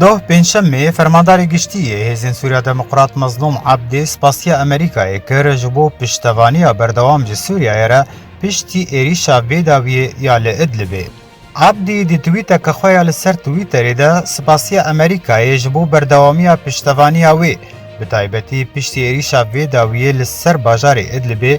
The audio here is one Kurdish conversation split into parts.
Doh pêncşemê fermandarê giştî yê Hêzên Sûriya Demokrat Mezlûm Ebdê spasiya Amerîkayê kir ji bo piştevaniya berdewam ji Sûriyeyê re piştî êrîşa vê dawiyê ya li Idlibê. Ebdî di twîteke xwe ya li ser Twitterê de spasiya Amerîkayê ji bo berdewamiya piştevaniya wê, bi taybetî piştî êrîşa vê dawiyê li ser bajarê Idlibê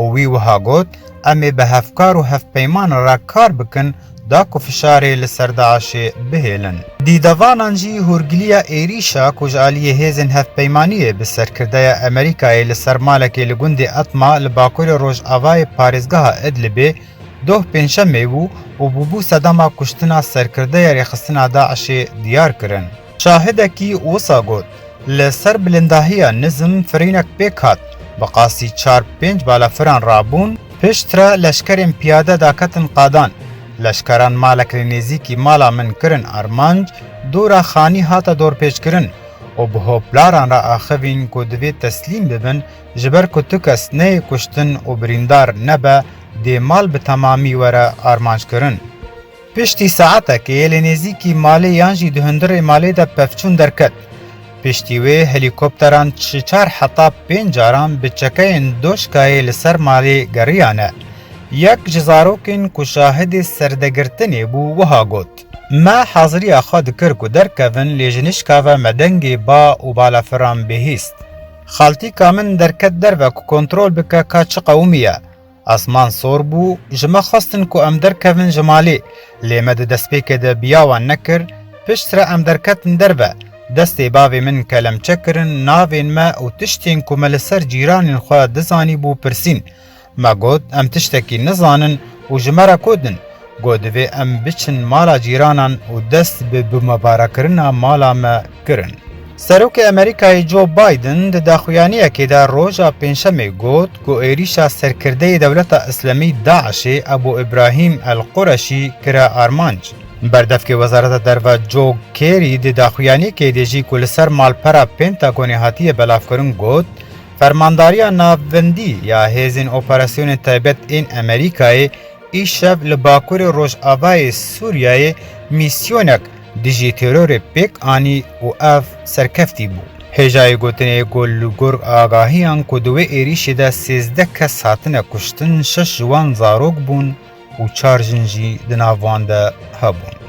û wî wiha got, Em ê bi hevkar û hevpeyman re kar bikin da ku fişarê li ser DAIŞ'ê bihêlin. Di devanan jî hûrgiliya êrîşa ku ji aliyê hêzên hevpeymaniyê bi serkirdeya Emerîkayê li ser malekê li gundê Etma li bakurê rojavayê parêzgeha Idlibê doh pêncşemê bû û bûbû sedema kuştina serkirdeya rêxistina DAIŞ'ê diyar kirin. Şahidekî wisa got, Li ser bilindahiya nizm firînek pêk hat, bi qasî çar pênc balafiran rabûn, pişt re leşkerên piyade daketin qadan, leşkeran malek li nêzîkî mala min kirin armanc, dora xanî hate dorpêçkirin û bi hoplaran re axivîn ku divê teslîm bibin ji ber ku tu kes neyê kuştin û birîndar nebe dê mal bi temamî were armanckirin. Piştî saetekê li nêzîkî malê yan jî di hundirê malê de pevçûn derket. Piştî wê helîkopteran çi çar heta pênc caran bi çekeyên doşkayê li ser malê geriyane. Yek ji zarokên ku şahidê serdegirtinê bû wiha got, Me haziriya xwe dikir ku derkevin lê ji nişka ve me dengê ba û balafiran bihîst. Xaltîka min derket derve ku kontrol bike ka çi qewimî ye. Asman sor bû, ji me xwestin ku em derkevin ji malê, lê me di destpêkê de biya wan nekir, piştre em derketin derve, destê bavê min kelemçe kirin navên me û tiştên ku me li ser cîranên xwe dizanîbû pirsîn. Me got em tiştekî nizanin û ji me re kod in, Got divê em biçin mala cîranan û dest bi bûmabarakirina mala me kirin. Serokê Amerîkayê Joe Biden di daxuyaniyekê de roja Pêncşemê got ku êrîşa serkirdeyê Dewleta Îslamî DAIŞ'ê Ebû Îbrahîm El Qureşî kire armanc. Berdevkê Wezareta Derve Joe Kerry di daxuyaniyekê de jî ku li ser malpera Pentagonê hatiye belavkirin got, Fermandariya Navbendî ya Hêzên Operasyonên Taybet ên Amerîkayê Îşev li bakurê rojavayê Sûriyeyê mîsyonek dijî terorê pêk anî û ev serkeftî bû. Hêjayê gotinê ku li gor agahiyan ku di wê êrîşê de sêzdeh kes hatine kuştin şeş ji wan zarok bûn û çar jin jî di nav wan de hebûn.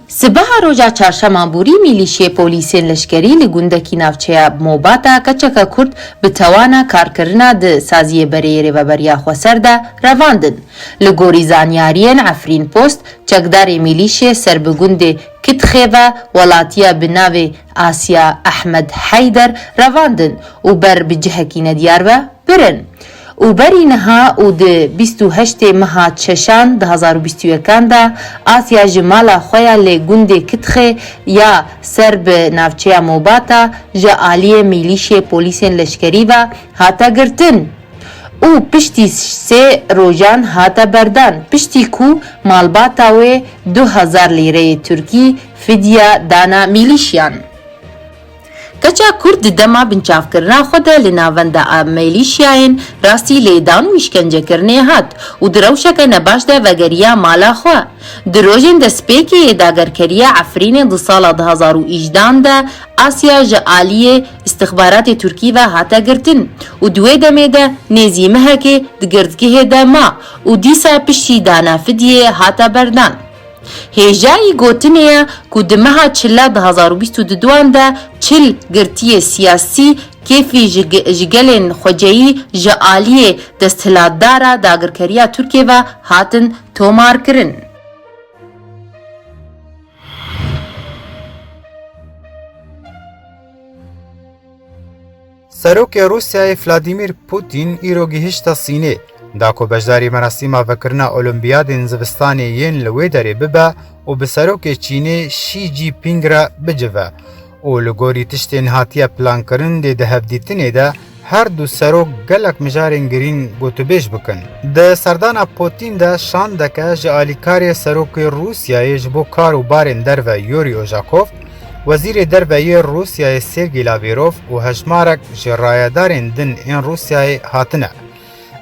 Sibeha roja çarşema borî mîlîşyê polîsên leşkerî li gundekî navçeya Mobata keçeke Kurd bi tewana karkirina di saziyê bereyê Rêveberiya Xweser de revandin. Li gorî zanyariyên Efrînpost, çekdarê mîlîşyê ser bi gundê Kitxêve welatiya bi navê Asiya Ehmed Heyder revandin û ber bi cihekî nediyar ve birin. Û berî niha û di bîst û heştê meha çeşan di hezar û bîst û yekan de Asya ji mala xwe ya lê gundê Kitxê ya ser bi navçeya Mobata ji aliyê mîlîşê polîsên leşkerî ve hate girtin û piştî sê rojan hate berdan piştî ku malbata wê du hezar lîreyê Tirkî fidya dana mîlîşyan. Keça Kurd di dema binçavkirina xwe de li navenda mêlîşyayên rastî lêdan û îşkencekirinê hat û di rewşeke nebaş de vegeriya mala xwe. Di rojên destpêkê yê dagerkeriya Efrînê di sala du hezar û îjdeh an de Asya ji aliyê îstixbaratê Tirkî ve hate girtin û di wê demê de nêzî mehekê di girdgehê de ma û dîsa piştî dana fidyê hate berdan. Hêjayî gotinê ye ku di meha çila du hezar û bîst û du duan de çil girtiyê siyasî, kêfî ji ji gelên xweceyî ji aliyê desthilatdara dagirkeriya Tirkiyê ve hatin tomarkirin. Serokê Rûsyayê Vladîmîr Pûtîn îro gihişte Sînê. Da ku beşdarî merasîma vekirina Olîmpiyadên zivistanê yên li wê derê bibe û bi serokê Çînê Şî Cîpîng re bicive û li gorî tiştên hatiye plankirin dê di hevdîtinê de her du serok gelek mijarên girîng gotûbêj bikin. Di serdana Pûtîn de şandeke ji alîkarê Serokê Rûsyayê ji bo kar û barên derve Yûrî Ojakov, Wezîrê Derve yê Rûsyayê Sergî Lavêrov û hejmarek ji rayedarên din ên Rûsyayê hatine.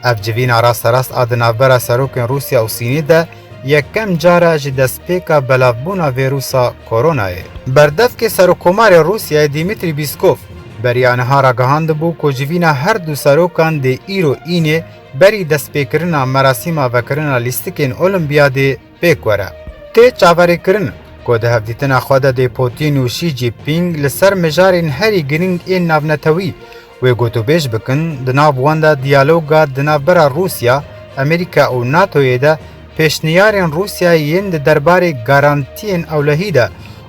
Ev civîna rasterast a di navbera serokên Rûsya û Sînê de yekem car e ji destpêka belavbûna vîrûsa koronayê. Berdevkê Serokkomarê Rûsyayê Dîmîtrî Bîskov beriya niha ragihandibû ku civîna her du serokan dê îro înê berî destpêkirina merasîma vekirina lîstikên Olîmpiyadê Pêk were, tê çaverêkirin ku di hevdîtina xwe de dê Pûtîn û Şî Cînpîng li ser mijarên herî girîng ên navnetewî wê gotûbêj bikin, di nav wan de diyaloga di navbera Rûsya, Amerîka û NATO'yê de, pêşniyarên Rûsyayê yên di derbarê garantiyên ewlehî de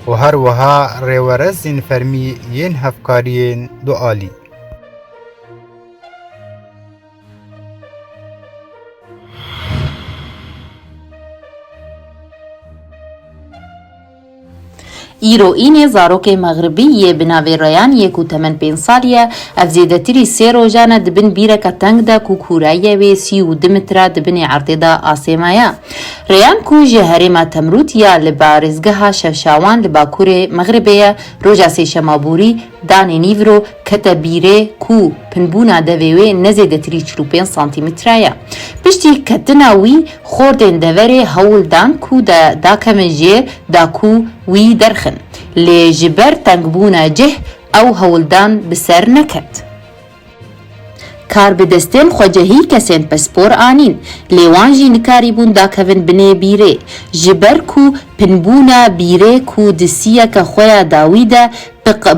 û her wiha rêwerezên fermî yên hevkariyên dualî. Îro Înê zarokê Mexribî yê bi navê Reyan yê ku temen pênc sal ye, ev zêdetirî sê rojan e di bin bîreke teng de ku kûreyê wê sî û du mitre di binê erdê de asê me ye. Reyan ku ji herêma Temrût ya li parêzgeha Şevşawan li bakurê Mexribê ye, roja sêşema borî danê nîvro Kete bîrê ku pinbûna devê wê ne zêdetirî çil û pênc santîmître ye. Piştî ketina wî xortên deverê hewl dan ku de dakemin jê da ku wî derxin. Lê ji ber tengbûna cih ew hewldan bi ser neket. Kar bi destên xwecehî kesên pispor anîn. Lê wan jî nikarîbûn dakevin binê bîrê. Ji ber ku pinbûna bîrê ku di siyeke xwe ya dawî de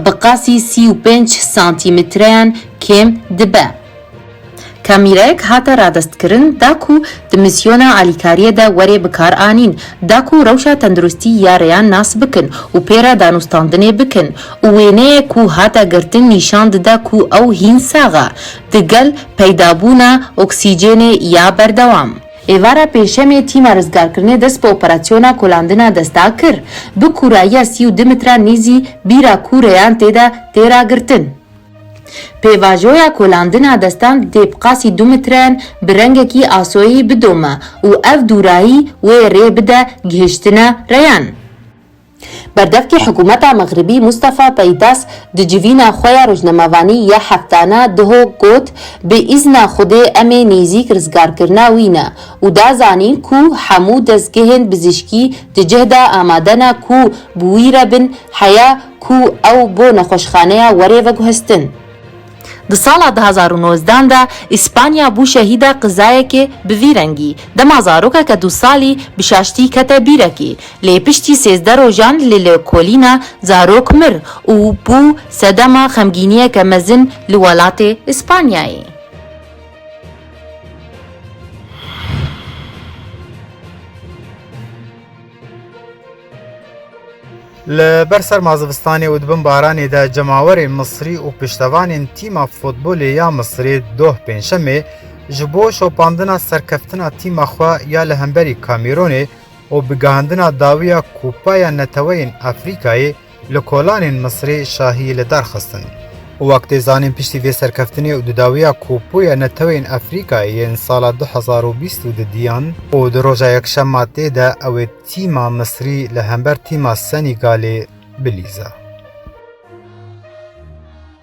bi qasî sî û pênc santîmetreyan kêm dibe. Kamîreyek hate radestkirin da ku di mîsyona alîkariyê de were bikaranîn da ku rewşa tenduristî ya rêyan nas bikin û pê re danûstandinê bikin û wêneyek ku hate girtin nîşan dide ku ew hîn sax e digel peydabûna oksîcênê ya berdewam. Êvara Pêncşemê tîma rizgarkirinê dest bi operasyona kolandina desta kir. Bi kûrayiya sî û du mitran nîzî bîra kûreyan tê de tê ragirtin. Pêvajoya kolandina destan di dêbqasî du mitren bi rengekî asoyî bidome û ev dûrayî wê rê bide gihiştina reyan. Berdevkê hikûmeta Mexribî Mustafa Peydas di civîna xwe ya rojnamevanî ya heftana Duho got, Bi îzna Xwedê em ê nêzîk rizgarkirina wî ne û da zanîn ku hemû dezgehên bizîşkî di cih de amade ne ku bi wî re bin heya ku ew bo nexweşxaneya werê veguhestin. Di sala du hezar û nozdan de Îspanya bû şehîda qizayekê bi vî rengî, dema zarokeke du salî bi şaştî kete bîrekê, lê piştî sêzdeh rojan li lêkolîna zarok mir û bû sedema xemgîniyeke mezin li welatê Îspanyayê. Li ber serma zivistanê û di bin baranê de cemawerên Misrî û piştevanên tîma futbolê ya Misrê doh pêncşemê ji bo şopandina serkeftina tîma xwe ya li hemberî Kamîronê û bigihandina dawiya Kupaya Neteweyên Afrîkayê Li kolanên Misirê şahiyê li dar xistin. Wek tê zanîn piştî vê serkeftinê û di dawiya Kopoya Netewên Efrîkayê yên sala du hezar û bîst û du diyan û di roja yekşema tê de ew ê tîma Misirî li hember tîma Senîgalê bilîza.